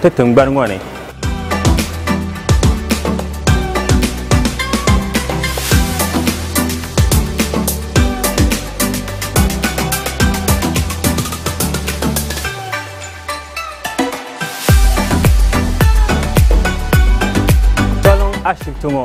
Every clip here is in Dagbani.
ti tingbani ŋɔ ni. Tɔliŋ ashibiti ŋɔ.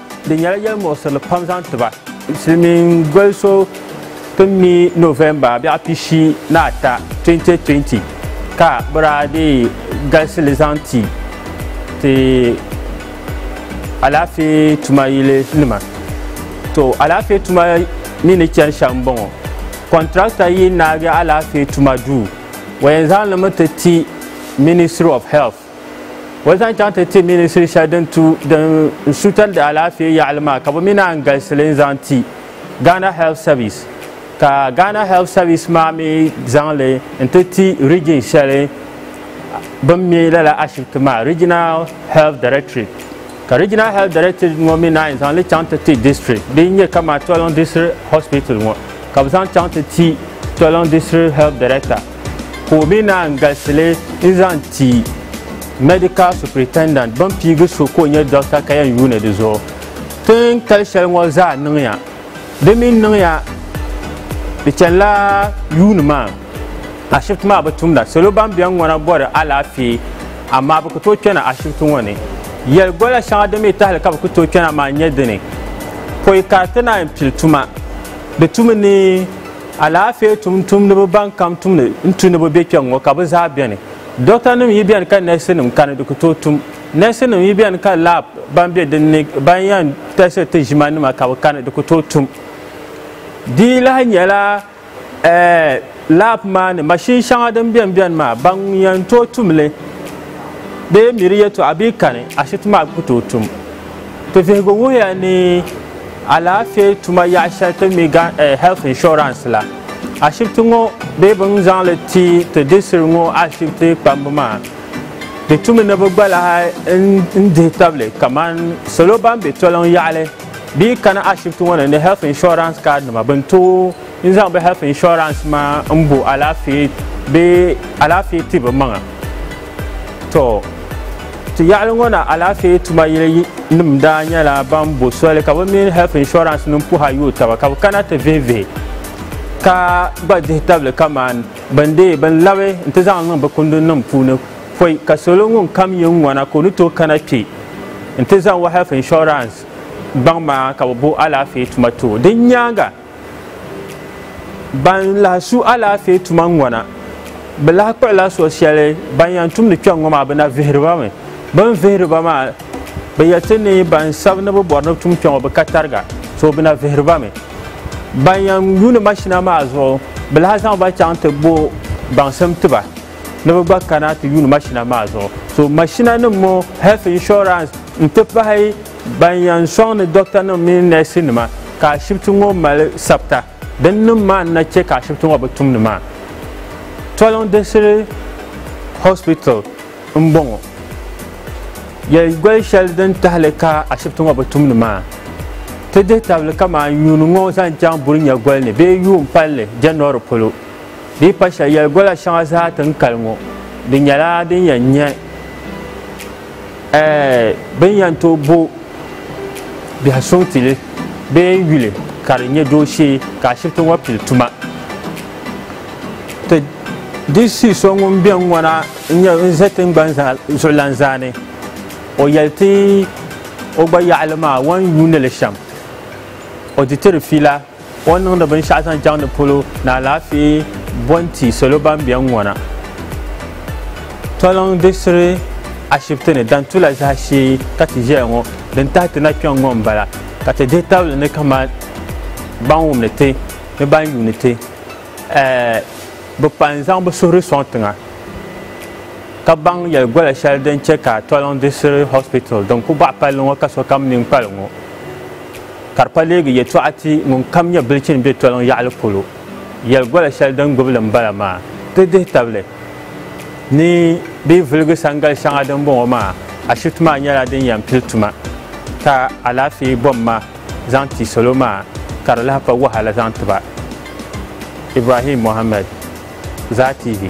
Di nyɛla yɛlimuɣisirili pam zaŋ ti ba. Silimiin goli so tin mi November biɛɣu pishi ni ata 2020 ka bɛ daa dii galisi li zaŋ ti ti alaafee tuma yili nima. To alaafee tuma mi ni chani shɛm m bɔŋɔ. Contractor yi naagi alaafee tuma duu o yɛn zaŋ li mi ti ti Ministry of Health. Bɔ zaŋ chaŋ ti ti minisiri shɛli din tu din n suutari alaafee yaɣili maa ka bɛ mi naan galisi li n zaŋ ti Ghana Health Service ka Ghana Health Service maa mi zaŋ li n ti ti region shɛli bɛn mi lala ashibiti maa Regional Health Directorate ka Regional Health Directorate ŋɔ mi naan zaŋ li chaŋ ti ti district din nyɛ kamani Tɔliŋ District Hospital ŋɔ ka bɛ zaŋ chaŋ ti ti Tɔliŋ District Health Director. ka o mi naan galisi li n-zaŋ ti Medical Superintendent bɛn piigi so ka o nyɛ dɔkta ka yɛn yuuni di zuɣu. Tin kali shɛli ŋɔ zaa niŋya. Di mi niŋya di chanila yuuni maa ashibiti maa bi tumda. Salo ban beni ŋɔ na bɔri alaafee amaa bɛ ku tooi kpɛna ashibiti ŋɔ ni. Yɛligola shɛŋa din mi tahili ka bɛ ku tooi kpɛna maa n-nyɛ dini, pɔi kariti naan pili tuma di tumi ni. Alaafee tumtumdiba ban kam tumdi n tu ni bɛ be kpɛŋ ŋɔ ka bɛ zaa beni. Dɔktanim yi beni ka nɛɛsinim kani di ku tooi tum. Nɛɛsinim yi beni ka laab ban be din ni ban yɛn tɛsiri ti ʒimanima ka bɛ kani di ku tooi tum. Di lahi nyɛla laab maa ni mashin shɛŋa din beni beni maa ban yɛn tooi tum li bee miri yɛtɔɣa bee kani ashibiti maa ku tooi tum. Ti vihigu wuhiya ni alaafee tuma yaɣa shɛli ti mi gan eh, health insurance la, ashibiti ŋɔ bee bɛ ni zaŋ li ti ti disiri ŋɔ ashibiti kpambu maa di tumi ni bi gba lahi n dihi tabili kaman salo ban be toliŋ yaɣali bee kana ashibiti ŋɔ ni ni health insurance card nima bɛ ni tooi N zaŋ bɛ health insurance maa n bo alaafee bee alaafee ti bɛ maŋa. To ti yaɣili ŋɔ na alaafee tuma yili nim daa nyɛla ban bo soli ka bɛ mini health insurance nim puha yooi taba ka bɛ kana ti vihi vihi ka gba dihi tabili kaman bɛn deei bɛn labi n ti zaŋ niŋ bɛ kundi nim puuni pɔi ka salo ŋun kam yi n ŋɔna ka o ni tooi kana kpe n ti zaŋ o health insurance gbaŋ maa ka bɛ bo alaafee tuma ti o. Din nyaaŋa. Ban lahi su alaafee tuma ŋɔna, bɛ lahi kpuɣila so shɛli ban yɛn tumdi kpɛŋ ŋɔ maa bɛ na vihiri ba mi. Bɛ ni vihiri ba maa, bɛ yɛlsi ni ban sabi ni bɛ bɔri ni bɛ tum kpɛŋɔ bɛ ka tariga, so bɛ na vihiri ba mi. Ban yɛn yuuni mashina maa zuɣu, bɛ lahi zaŋ ba chaŋ ti bo baŋsim ti ba ni bɛ gba kana ti yuuni mashina maa zuɣu. So mashinanim ŋɔ, health insurance n-ti pahi Ban yan sɔŋ ni dɔktanima mini nɛɛsinima ka ashibiti ŋɔ mali sabita din niŋ maa n-na chɛ ka ashibiti ŋɔ bi tum ni maa. Toliŋ Diɣisiri Hospital m-bɔŋɔ. Yɛli goli shɛli din tahili ka ashibiti ŋɔ bi tum ni maa, ti dihi tabili kaman yuuni ŋɔ zaŋ chaŋ Burinyagoli ni bee yuun palli January polo dii pa shɛli. Yɛli gola shɛŋa zaa ti ni kali ŋɔ di nyɛla din yɛn nyɛ. Bɛ ni yɛn tooi bo biɛhi suŋ ti li bee n-yuli ka di nyɛ dooshee ka ashibiti ŋɔ pili tuma. Ti di shii so ŋun be ŋ-ŋɔ na n-ʒe tiŋgbani zuɣulan zaa ni o yɛli ti o gba yaɣili maa o ni yuuni li shɛm o di ti di fiila. O ni niŋdi binshɛɣu zaŋ chaŋ di polo ni alaafee bo n-ti salo ban be n-ŋɔna. Toliŋ diɣisiri ashibiti ni Dantula zahashee ka ti ʒeya ŋɔ din tahi ti na kpiɔŋ ŋɔ m-bala ka ti dihi tabili ni kamani ban wumdi ti ni ban yuuni ti bi pa n-zaŋ bi suhuri sɔŋ tiŋa ka baŋ yɛli gola shɛli din che ka Toliŋ diɣisiri hospital din ku baɣi palli ŋɔ ka sokam nini kpali ŋɔ. Ka di pa leegi yɛtɔɣa ti ŋun kam nyɛ bilichini be toliŋ yaɣili polo, yɛli gola shɛli din gbibi li m-bala maa, di dihi tabili ni bɛ yi viligi sangali shɛŋa din bɔŋɔ maa, ashibiti maa nyɛla din yɛn pili tuma ka alaafee bomma zaŋ ti salo maa ka di lahi pa wahala zaŋ ti ba. Ibrahim Mohammed, Zaa TV.